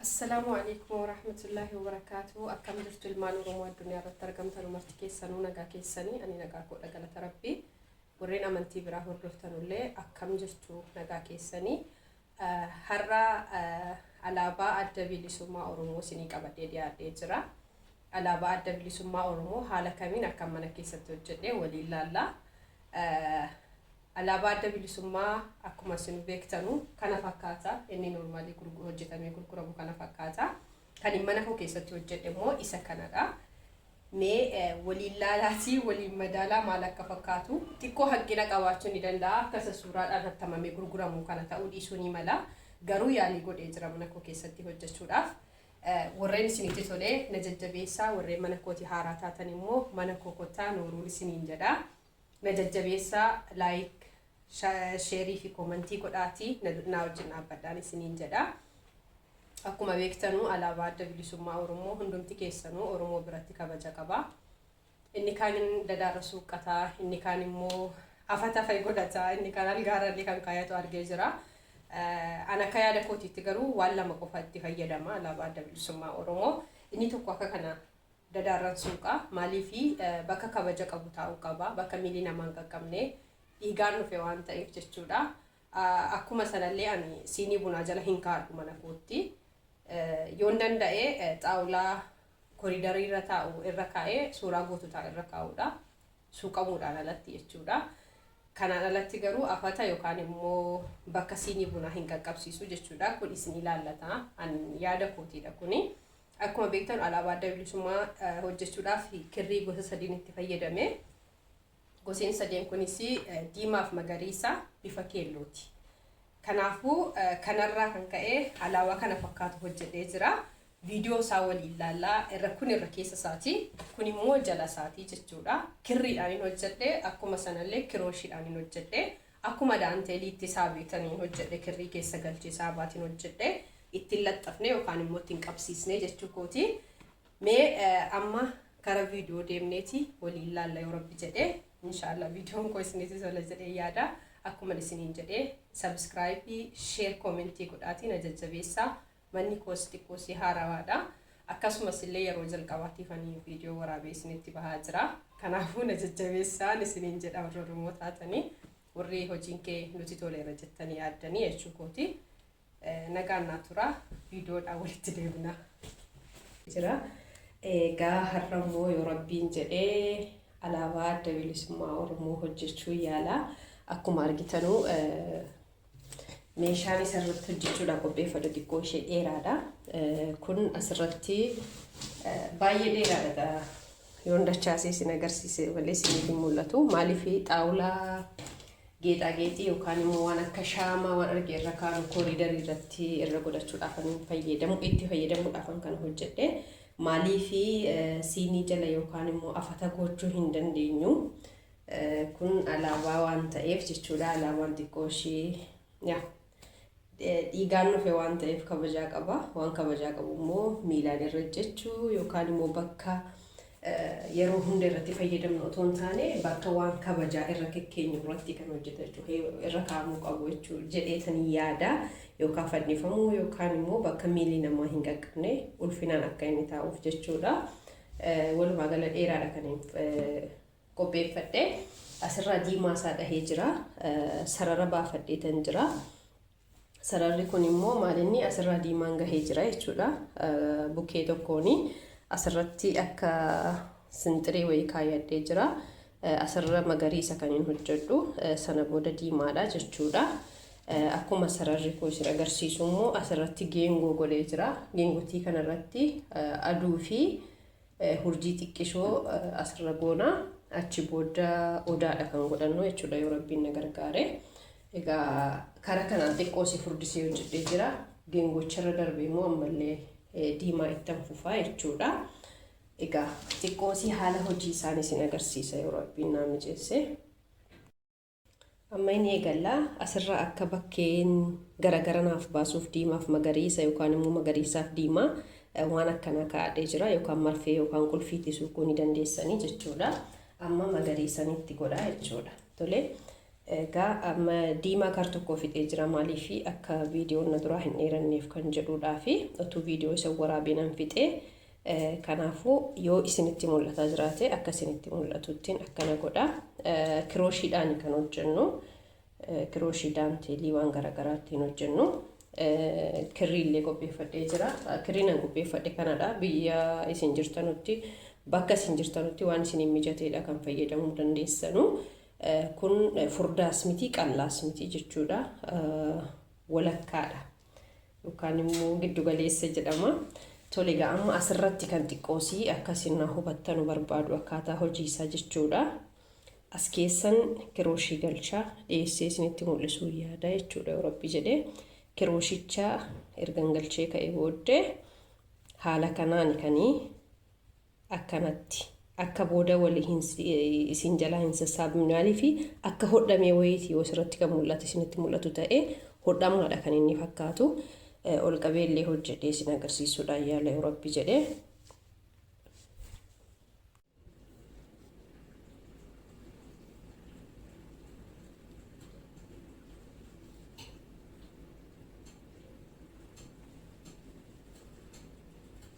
Assalaamu Aleeykum Warahmatullaahi Wabarakaatuhu Akkam jirtu ilmaan Oromoo addunyaa irratti argamtan marti keessanuu nagaa keessanii ani nagaa koodha galata rabbii warreen amantii biraa hordoftanullee akkam jirtu nagaa keessanii har'a alaabaa adda bilisummaa Oromoo isinii qabadhee dhiyaadhee jira alaabaa adda bilisummaa Oromoo haala kamiin akka mana keessatti hojjedhee waliin laallaa Alaabaa Adda Bilisummaa akkuma isinuu beektanu kana fakkaata. Inni normally hojjetamee gurguramu kana fakkaata. Kan hin mana koo keessatti hojjedhe immoo isa kanadha. Mee waliin laalaatii waliin madaalaa maal akka fakkaatu xiqqoo hanqina qabaachuu ni danda'a. Akka isa suuraadhaan hattamamee gurguramu kana ta'uu dhiisuu ni mala. Garuu yaalii godhee jira mana koo keessatti hojjechuudhaaf. Warreen isinitti tolee na jajjabeessaa warreen mana kooti haaraa taatan immoo mana koo kottaa nooruun isiniin jedha. Na jajjabeessaa like share fi komantii godhaati naa wajjin dhaabbadhaan isiniin jedha. Akkuma beektanuu alaabaa adda bilisummaa Oromoo hundumti keessanuu Oromoo biratti kabaja qaba. Inni kaan dadaarra suuqqataa, inni kaan immoo afatafe godhataa, inni kaan algaarrallee kan kaayatu argee jira. An akka yaada kootiitti garuu waan lama qofa itti fayyadama alaabaa adda bilisummaa Oromoo. Inni tokko akka kana Dadaarran suuqa maaliifi bakka kabaja qabu taa'uu qaba? Bakka miilli namaa hin qaqqabne. Dhiigaan dhufe waan ta'eef jechuudha. Akkuma sanallee ani siinii bunaa jala hin kaa'adhu mana kootti. Yoon danda'e xaawulaa koriidarii irra taa'u irra kaa'ee suuraa goototaa irra kaa'uudha. Suuqamuudhaan alatti jechuudha. Kanaan alatti garuu afata yookaan immoo bakka siinii bunaa hin qaqqabsiisu jechuudha. Kun isin ilaallata. An yaada kootiidha kuni. Akkuma beektan alaabaa adda bilisummaa hojjechuudhaaf kirrii gosa sadiin itti fayyadame. Goseen sadeen kunis diimaaf magariisa bifa keellooti. Kanaafuu kanarraa kan ka'e alaabaa kana fakkaatu hojjedhee jira. Viidiyoo isaa waliin ilaallaa irra kun irra keessa isaati. Kun immoo jala isaati jechuudha. Kirriidhaan hin hojjedhe akkuma sanallee kirooshiidhaan hin hojjedhe. Akkuma daanteelii itti isaa beetaniin hojjedhe kirrii keessa galchee saabaatiin hojjedhe itti hin laxxafne yookaan immoo itti hin qabsiisne jechuu kooti. Mee amma gara viidiyoo deemneeti waliin laalla yoo rabbi jedhe inshaallah viidiyoon koo isinitti tola jedhee yaada. Akkuma isiniin jedhe sabiskiraayibii sheer koomentii godhaatiin ajajjabeessaa Manni koos xiqqoo si haarawaadha. Akkasumas illee yeroo jalqabaatiif ani viidiyoo waraabee isinitti bahaa jira. Kanaafuu na jajjabeessaan isiniin jedha warri Oromoo taatanii warri hojiin kee nuti toleera jettanii yaaddanii jechuu kooti. Nagaan naa tura viidiyoodhaan walitti deebina. Jira. Egaa har'a immoo yoo rabbiin jedhee alaabaa adda bilisummaa Oromoo hojjechuu yaala. Akkuma argitanuu Meeshaan isarratti hojjechuudhaaf qopheeffadhu xiqqoo ishee dheeraadha. Kun asirratti baay'ee dheeraadha. Yoon dachaasee isin agarsiise malee isiniif hin mul'atu. Maaliif xaawulaa geexaageexii yookaan immoo waan akka shaamaa waan arge irra kaa'u kooriidarii irratti irra godhachuudhaaf kan fayyadamu itti fayyadamuudhaaf kan hojjedhe. Maaliif siinii jala yookaan immoo afata gochuu hin dandeenyu. Kun alaabaa waan ta'eef jechuudha. Alaabaan xiqqoo ishee yaa dhiigaan dhufe waan ta'eef kabajaa qaba. Waan kabajaa qabu immoo miilaan irra jechuu yookaan immoo bakka yeroo hunda irratti fayyadamnu otoo hin taane bakka waan kabajaa irra kekkeenyu irratti kan hojjeta jechuudha. Irra kaa'amuu qabu jechuudha jedheetan yaada yookaan fannifamuu yookaan immoo bakka miilli namaa hin qaqqabne ulfinaan akka inni taa'uuf jechuudha. Walumaa gala dheeraadha kan qopheeffadhe asirraa diimaa isaa dhahee jira sarara baafadheetan jira sararri kun immoo maalinni asirraa diimaan gahee jira jechuudha bukkee tokkoon asirratti akka sinxiree wayii kaayadhee jira asirra magariisa kan hin hojjedhu sana booda diimaadha jechuudha akkuma sararri kun isin agarsiisu immoo asirratti geengoo godhee jira geengotii kanarratti aduu fi hurjii xiqqishoo asirra goona achi booda odaadha kan godhannu jechuudha yoo rabbiin na gargaare egaa karaa kanaan xiqqoo si furdisee hojjedhee jira geengocharra darbe immoo ammallee eh, diimaa ittan fufaa jechuudha egaa xiqqoo si haala hojii isaanii sin agarsiisa yoo rabbiin naa mijeesse. Amma hin eegalla. Asirraa akka bakkeen garagara naaf baasuuf diimaaf magariisa yookaan immoo magariisaaf diimaa eh, waan akkanaa kaa'adhee jira yookaan marfee yookaan qulfiitti suuquu ni dandeessanii jechuudha. Amma magariisanitti godhaa jechuudha. Tole egaa amma diimaa kar tokkoo fixee jira maaliif akka viidiyoon na duraa hin dheeranneef kan jedhuudhaa fi otuu viidiyoo isa waraabee nan fixee Kanaafuu yoo isinitti mul'ataa jiraate akka isinitti mul'atuttiin akkana godha. Kirooshiidhaan kan hojjennu. Kirooshii daanteelii waan garaagaraa ittiin hojjennu. Kirrii illee qopheeffadhee jira. Kirriin an qopheeffadhe kanadha. Biyya isin jirtanutti bakka isin jirtanutti waan isiniin mijateedha kan fayyadamuu dandeessanu. Kun furdaas miti qallaas miti jechuudha. Walakkaadha. yookaan immoo giddu galeessa jedhama. Tole egaa amma asirratti kan xiqqoosii akkasiin na hubattanu barbaadu akkaataa hojii isaa jechuudha. As keessan kirooshii galchaa dhiyeessee isinitti mul'isuu yaada jechuudha yoo rabbi jedhee kirooshicha ergan galchee ka'e booddee haala kanaan kanii akkanatti akka booda wali hin isin jalaa hin sassaabne maaliifi akka hodhamee wayiiti yoo sirratti kan mul'atu isinitti mul'atu ta'e hodhamaadha kan inni fakkaatu ol qabee illee hojjedhee isin agarsiisuudhaan yaala yoo rabbi jedhe.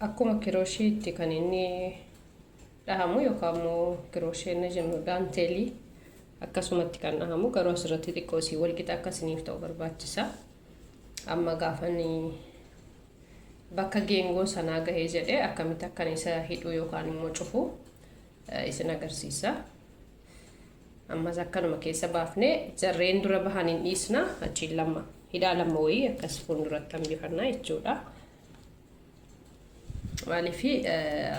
Akkuma kirooshiitti kan inni dhahamu yookaan immoo kirooshee inni jennu daanteelii akkasumatti kan dhahamu garuu asirratti xiqqoo isii walqixa akka isiniif ta'u barbaachisa. Amma gaafan bakka geengoo sanaa gahee jedhee akkamitti akkan isa hidhuu yookaan immoo cufu isin agarsiisa. Ammas akkanuma keessa baafne jarreen dura bahan hin dhiisna achiin lama hidhaa lama wayii akkas fuulduratti hambifannaa jechuudha. Maaliif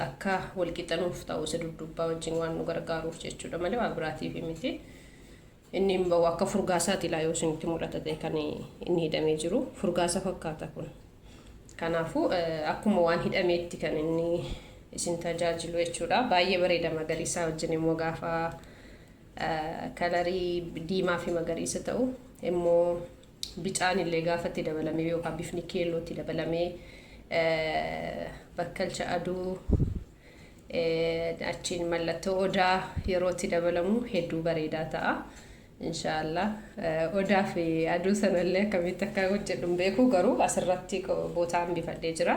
akka walqixanuuf ta'u isa duddubbaa wajjin waan nu gargaaruuf jechuudha malee waa biraatiif miti. Inni hin bahu akka furgaasaati ilaa yoo isinitti mul'ata ta'e kan inni hidhamee jiru furgaasa fakkaata kun. Kanaafuu akkuma waan hidhameetti kan inni isin tajaajilu jechuudha. Baay'ee bareeda magariisaa wajjin immoo gaafa kalarii diimaa fi magariisa ta'u immoo bicaan illee gaafa itti dabalamee yookaan bifni keelloo itti dabalamee bakkalcha aduu achiin mallattoo odaa yeroo itti dabalamu hedduu bareedaa ta'a. Insha Allah odaa fi aduu sana illee akkamitti akka hojjedhu hin beeku garuu asirratti bootaa hambifadhee jira.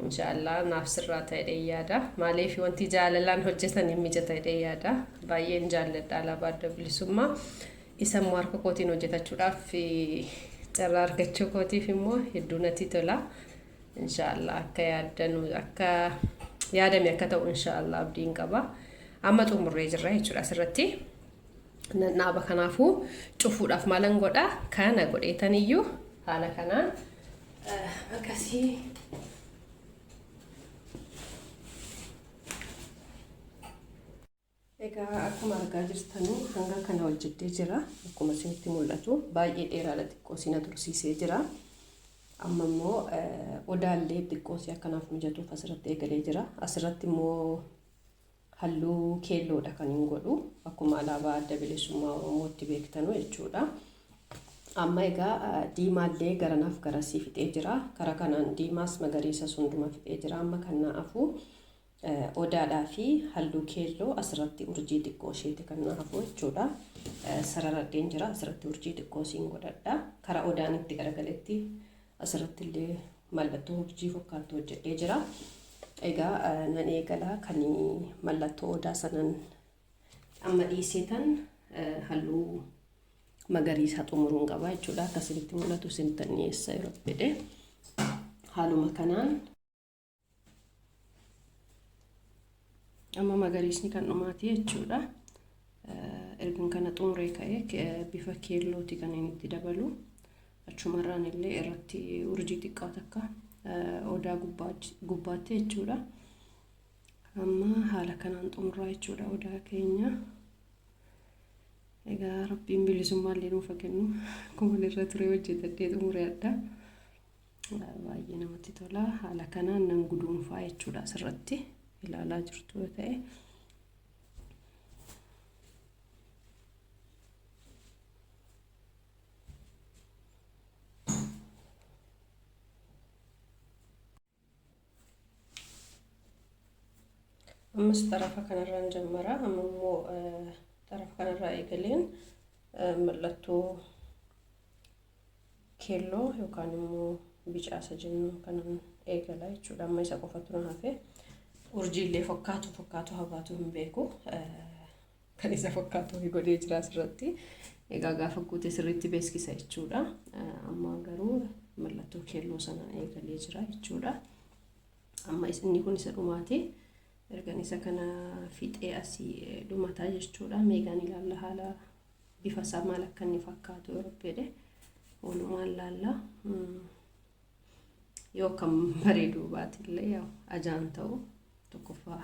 Insha Allah naaf sirraa ta'e jedhee yaada. Maaliif wanti jaalalaan hojjetan hin mijata jedhee yaada. Baay'een jaalladha alaabaa adda bilisummaa. Isa immoo harka kootiin hojjetachuudhaaf carraa argachuu kootiif immoo hedduu natti tola. Insha Allah akka yaadanu akka yaadame akka ta'u insha Allah abdiin qaba. Amma xumurree jirra jechuudha asirratti. nan dhaaba kanaafuu cufuudhaaf maalan godha kana godheetan iyyuu haala kanaan akkasii Egaa akkuma argaa jirtanu hanga kana hojjettee jira. Akkuma isinitti mul'atu baay'ee dheeraadha xiqqoo isin tursiisee jira. Amma immoo odaallee xiqqoo si akkanaaf mijatuuf asirratti eegalee jira. Asirratti immoo Halluu keelloodha kanin godhu akkuma alaabaa adda bilisummaa Oromootti beektanu jechuudha. Amma egaa diimaallee garanaaf garasii fixee jira. Kara kanaan diimaas magariisas hunduma fixee jira. Amma kan naa hafu odaadhaa fi halluu keelloo asirratti urjii xiqqoo isheeti kan naa hafu jechuudha. Sararadheen jira asirratti urjii xiqqoo siin godhadha. Kara odaan itti garagaletti Asirratti illee mallattoo urjii fokkaaltu hojjedhee jira. Egaa nan eegala kan mallattoo odaa sanan amma dhiisee tan halluu magariisaa xumuruun qaba jechuudha. Akkasinitti mul'atu isin tan dhiyeessa yeroo fedhe. Haaluma kanaan amma magariisni kan dhumaati jechuudha ergan kana xumuree ka'ee bifa keellooti kan inni itti dabalu achumarraan illee irratti urjii xiqqaa takka odaa gubbaatti jechuudha amma haala kanaan xumuraa jechuudha odaa keenya egaa rabbiin bilisummaa illee nuuf kennu akkuma irra ture hojjetadhee xumureedha. Baay'ee namatti tola. Haala kanaan nan guduunfaa jechuudha asirratti ilaalaa jirtu yoo ta'e. ammas xarafa kanarraan jammara amma immoo xarafa kanarraa eegaleen mallattoo keelloo yookaan immoo bicaasa jennu kanan eegala jechuudha amma isa qofatu na hafe urjiillee fakkaatu fakkaatu habaatu hin beeku kan isa fakkaatu wayii godhee jira asirratti. Egaa gaafa guute sirriitti beeksisa jechuudha. Amma garuu mallattoo keelloo sana eegalee jira jechuudha. Amma inni kun isa dhumaati. Ergan isa kana fixee asii dhumataa jechuudha. Meegaan ilaalla haala bifa isaa maal akka inni fakkaatu yoo rabbeedhe. Walumaan ilaalla. Yoo akkam bareeduu baate illee ajaan ta'u tokkoffaa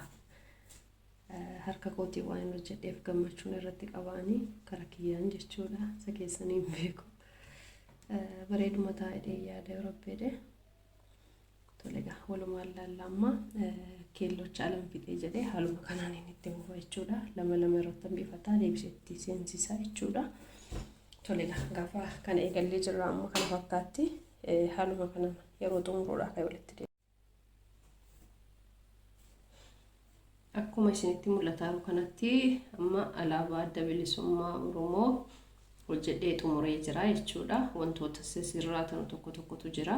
harka kootiin waan hin hojjedheef gammachuun irratti qabaanii kara kiyyaan jechuudha isa keessanii hin beeku bareeduma taa'ee yaada yoo rabbeede tolega walumaan laalla amma keellocha alam fixee jedhee haaluma kanaan inni itti fufa jechuudha lama lama irratti hambifataa deebiseetti seensisaa jechuudha tolega gaafa kana eegallee jirra amma kana fakkaatti haaluma kanaan yeroo xumuruudhaa kan walitti Akkuma isinitti mul'ataaru kanatti amma alaabaa adda bilisummaa Oromoo hojjedhee xumuree jira jechuudha. Wantoota sisirraatanu tokko tokkotu jira.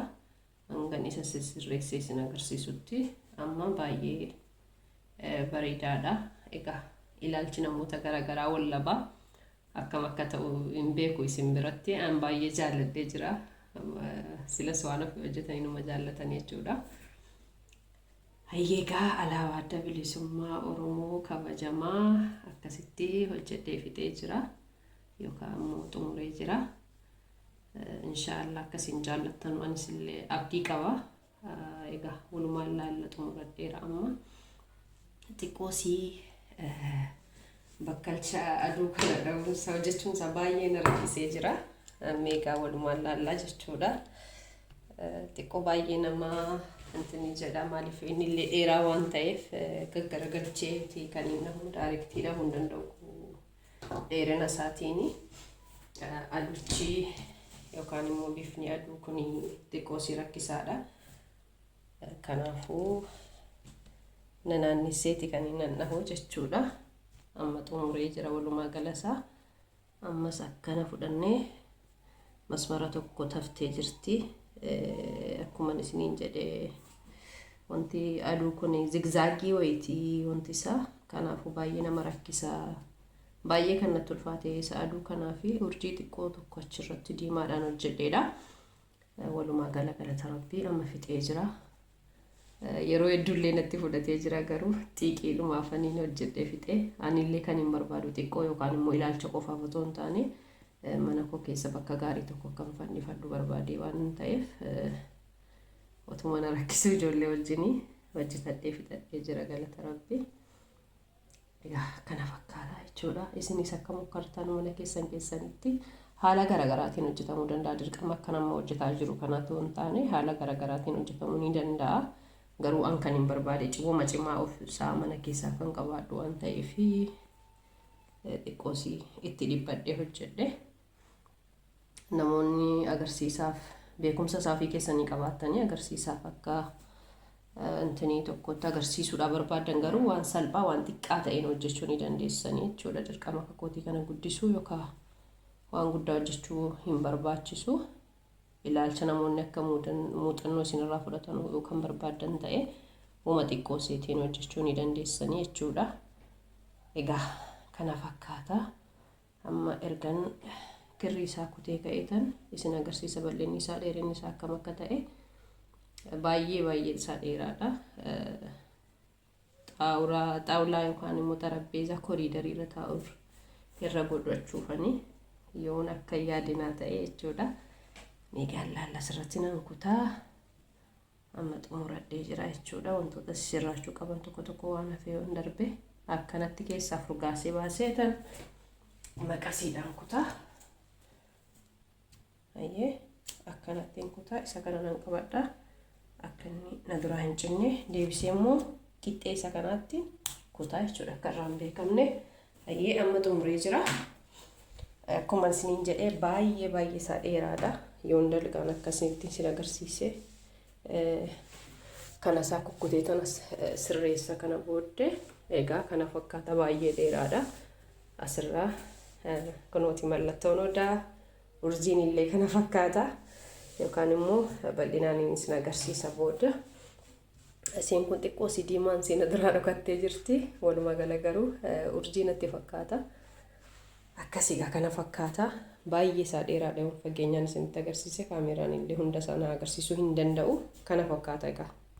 Hangan isa sisirreessee isin agarsiisutti amma baay'ee bareedaadha. Egaa ilaalchi namoota garaagaraa wallabaa akkam akka ta'u hin beeku isin biratti an baay'ee jaalladhee jira. Silas waan ofii hojjetanii numa jaallatan jechuudha. Hayyeegaa alaabaa adda bilisummaa Oromoo kabajamaa akkasitti hojjedhee fixee jira yookaan immoo xumuree jira. Inshaallah akkasiin jaallattan anis illee abdii qaba. Egaa walumaa ilaalla xumuradheera amma xiqqoo sii bakkalcha aduu kana dhabuun isaa hojjechuun isaa baay'ee na rakkisee jira. Meegaa walumaa ilaallaa jechuudha. Xiqqoo baay'ee nama intinii jedha maaliif inni illee dheeraa waan ta'eef gaggaragalchee kan inni daayirektii dhabuu hin danda'u. dheerina isaatiin aduchi yookaan immoo bifni aduu kun xiqqoo si rakkisaadha. Kanaafuu nanaannisseeti kan hin nannahu jechuudha. Amma xumuree jira walumaa galasaa. Ammas akkana fudhannee masmara tokko taftee jirti akkuman isiniin jedhe wanti aduu kun zigzaagii wayitii wanti isaa kanaafuu baay'ee nama rakkisa baay'ee kan natti ulfaate isa aduu kanaa fi urjii xiqqoo tokko achirratti diimaadhaan hojjedheedha walumaa gala galata rabbii amma fixee jira Yeroo hedduullee natti fudhatee jira garuu xiiqiidhuma afaniin hojjedhee fixee anillee kan hin barbaadu xiqqoo yookaan immoo ilaalcha qofaaf otoo hin taane eh, mana koo keessa bakka gaarii tokko kan fannifadhu barbaadee waan hin ta'eef eh, otuma na rakkisuu ijoollee wajjinii hojjetadhee fixadhee jira galata rabbi. Egaa kana fakkaata jechuudha. Isinis akka mokkartan mana keessan keessanitti haala garaagaraatiin hojjetamuu danda'a. Dirqama akka nama hojjetaa jiru kanaatu hin taane haala garaagaraatiin hojjetamuu ni danda'a. Garuu an kan hin barbaade cimuma cimaa of isaa mana keessaa kan qabaadhu waan ta'eef xiqqoosii itti dhibbadhee hojjedhe. namoonni agarsiisaaf beekumsa isaa ofii keessanii qabaattanii agarsiisaaf akka intinii tokkotti agarsiisuudhaa barbaadan garuu waan salphaa waan xiqqaa ta'een hojjechuu ni dandeessanii jechuudha dirqama kakootii kana guddisuu yookaan waan guddaa hojjechuu hin barbaachisu ilaalcha namoonni akka muuxannoo isinirraa fudhatan yoo kan barbaadan ta'e uuma xiqqoo seetiin hojjechuu ni dandeessanii jechuudha egaa kana fakkaata Amma ergan kirrii isaa kutee ka'eetan isin agarsiisa bal'inni isaa dheerinni isaa akkam akka ta'e baay'ee baay'een isaa dheeraadha. Xaawulaa xaawulaa yookaan immoo xarapheezaa koriidarii irra taa'uuf irra godhachuufani yoon akka yaadinaa ta'e jechuudha. Mee gaallaalla asirratti nan kutaa amma xumuradhee jira jechuudha wantoota sirraachuu qaban tokko tokko waan hafee yoon darbe akkanatti keessaa furgaasee baasee tan maqasiidhaan kutaa ayyee akkanattiin kutaa isa kana nan qabadha akka inni na duraa hin cinne deebisee immoo qixxee isa kanaatti kutaa jechuudha akka irraa hin beekamne Hayyee amma xumuree jira. Akkuma isiniin jedhee baay'ee baay'ee isaa dheeraadha. Yoon dalgaan akkasitti isin agarsiise kana isaa kukkutee tana sirreessa kana booddee egaa kana fakkaata baay'ee dheeraadha. Asirraa kunooti mallattoon odaa urjiin illee kana fakkaata yookaan immoo bal'inaan isin agarsiisa booda. Isiin kun xiqqoo si diimaan si na duraa dhokattee jirti. Walumaa gala garuu urjii natti fakkaata. Akkasii gaa kana fakkaata. Baay'ee isaa dheeraa dheeruun fageenyaan isinitti agarsiise kaameeraan illee hunda isaa na agarsiisuu hin danda'u. Kana fakkaata egaa.